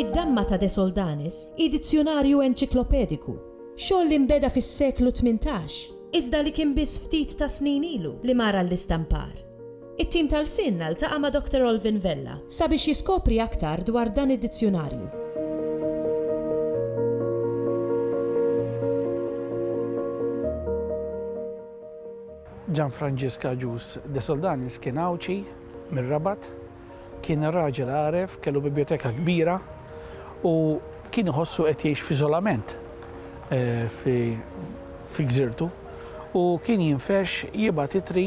Id-Damma ta' De Soldanis hi dizzjunarju enċiklopediku, xogħol li nbeda fis-seklu tmintax, iżda li kien biss ftit tas-snin ilu li mar għall-istampar. It-tim ta' Lsienna ltaqa' ma' Doctor Olvin Vella sabiex jiskopri aktar dwar dan id-dizzjunarju. Gianfrancesc Agius de Soldanis kien Għawdxi, mir-Rabat. Kien raġel għaref, kellu bibjoteka kbira u kien iħossu qed jgħix f'iżolament fi gżirtu u kien jinfex jibgħat ittri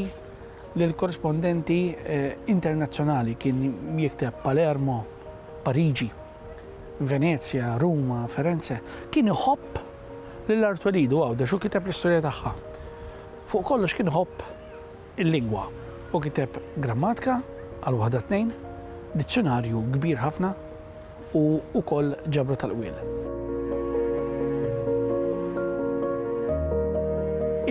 Lill-korrispondenti internazzjonali kien jikteb Palermo, Pariġi, Venezja, Ruma, Ferenze. Kien iħobb lil Artwelidu Għawdex u kiteb l-istorja tagħha. Fuq kollox kien iħobb il-lingwa u kiteb grammatka għal waħda tnejn, dizzjunarju kbir ħafna u wkoll ġabra tal-qwiel.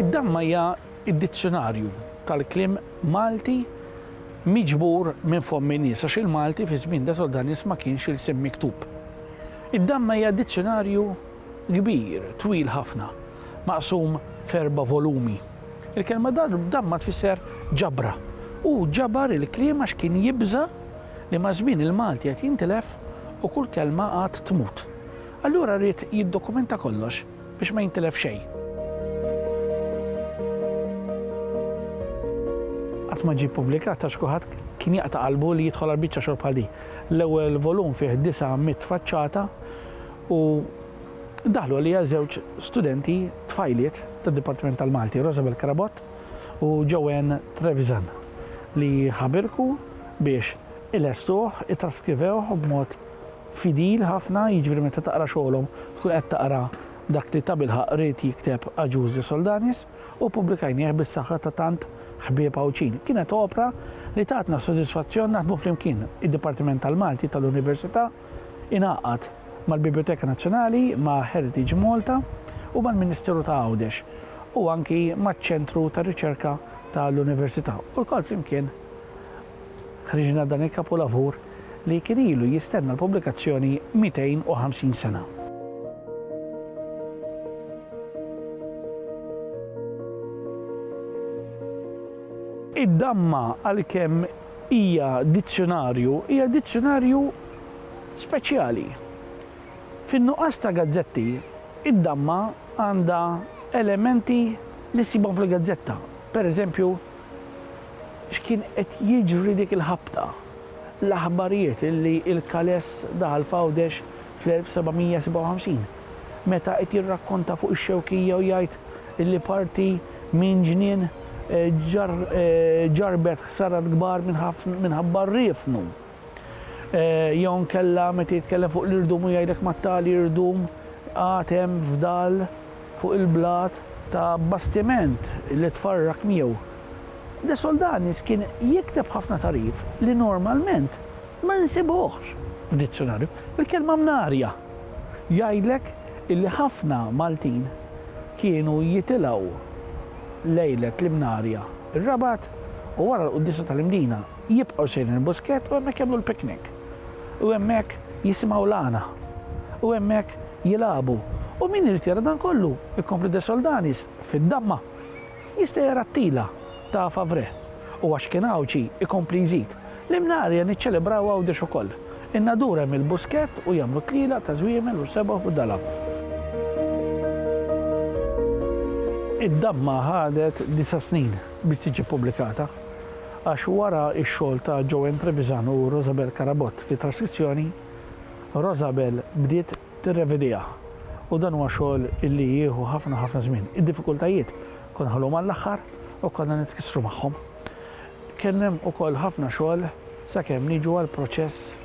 Id-damma hija id-dizzjunarju tal-kliem Malti miġbur minn fomm in-nies, għax il-Malti fi żmien Desodanus ma kienx ilsien miktub. Id-Damma hija dizzjunarju kbir, twil ħafna, maqsum f'erba' volumi. Il-kelma Damma tfisser ġabra. Hu ġabar il-kliem għax kien jibża' li maż-żmien il-Malti qed jintilef u kull kelma għad tmut. Allura ried jiddokumenta kollox. biex ma jintilef xejn. Qatt ma ġie ppubblikat għax kulħadd kien jaqta' qalbu li jidħol għal biċċa xogħol bħal di. L-ewwel volum fih disa' mit faċċata u daħlu għalija żewġ studenti tfajliet tad-Dipartiment tal-Malti, Rosabel Krabot u Joanne Trevisan, li ħabirku biex il-estuħ, it-traskrivewħ b'mod fidil ħafna, jiġifieri meta taqra xogħolhom tkun qed taqra dak li tabilħaqq ried jikteb Agius de Soldanis, u ppubblikajnieh bis-saħħa ta' tant ħbieb Għawdxin. Kienet opra li tatna sodisfazzjon naħdmu flimkien. Id-Dipartiment tal-Malti tal-Università ingħaqad mal-Bibljoteka Nazzjonali, ma' Heritage Malta u mal-Ministeru ta' Għawdex, u anki maċ-Ċentru tar-Riċerka tal-Università, u lkoll flimkien, Ħriġna dan il-kapulavur li kien ilu jistenna l-pubblikazzjoni 250 sena. Id-Damma għalkemm hija dizzjunarju, hija dizzjunarju speċjali. Fin-nuqqas ta' gazzetti, id-Damma għandha elementi li ssibhom fil-gazzetta, pereżempju X'kien qed jiġri dik il-ħabta? L-aħbarijiet li l-Kales daħal f'Għawdex fl-1757, meta qed jirrakkonta fuq ix-Xewkija u jgħid li parti minn ġnien ġarrbet ħsarat kbar minħabba r-riefnu, Jew inkella meta jitkellem fuq l-irdum u jgħidlek ma' tali irdum għad hemm fdal fuq il-blat ta' bastiment li tfarrak miegħu. De Soldanis kien jikteb ħafna tagħrif li normalment ma nsibuhx f'dizzjunarju. Il-kelma mnarja jgħidlek illi ħafna Maltin kienu jitilgħu lejlet l-Imnarja, ir-Rabat, u wara l-Quddiesa tal-Imdina. Jibqgħu sejrin il-Buskett u hemmhekk jagħmlu l-picnic. U hemmhekk jisimgħu l-għana. U hemmhekk jilagħbu. U min irid jara dan kollu, ikompli De Soldanis, fid-damma, jista' jara t-tila ta' Favre. U għax kien Għawdxi, ikompli jżid, l-Imnarja niċċelebraw Għawdex ukoll. In-nadur hemm il-Buskett u jagħmlu t-tlielaq ta' żwiemel u sebgħu u dalab. Id-damma ħadet disa' snin biex tiġi ppubblikata. Għax wara x-xogħol ta' Joanne Trevisan u Rosabel Carabott fit-traskrizzjoni, Rosabel bdiet tirrevidiha u dan huwa xogħol li jieħu ħafna ħafna żmien. Id-diffikultajiet konna nħalluhom għall-aħħar u konna nitkissru magħhom. Kien hemm ukoll ħafna xogħol sakemm niġu għall-proċess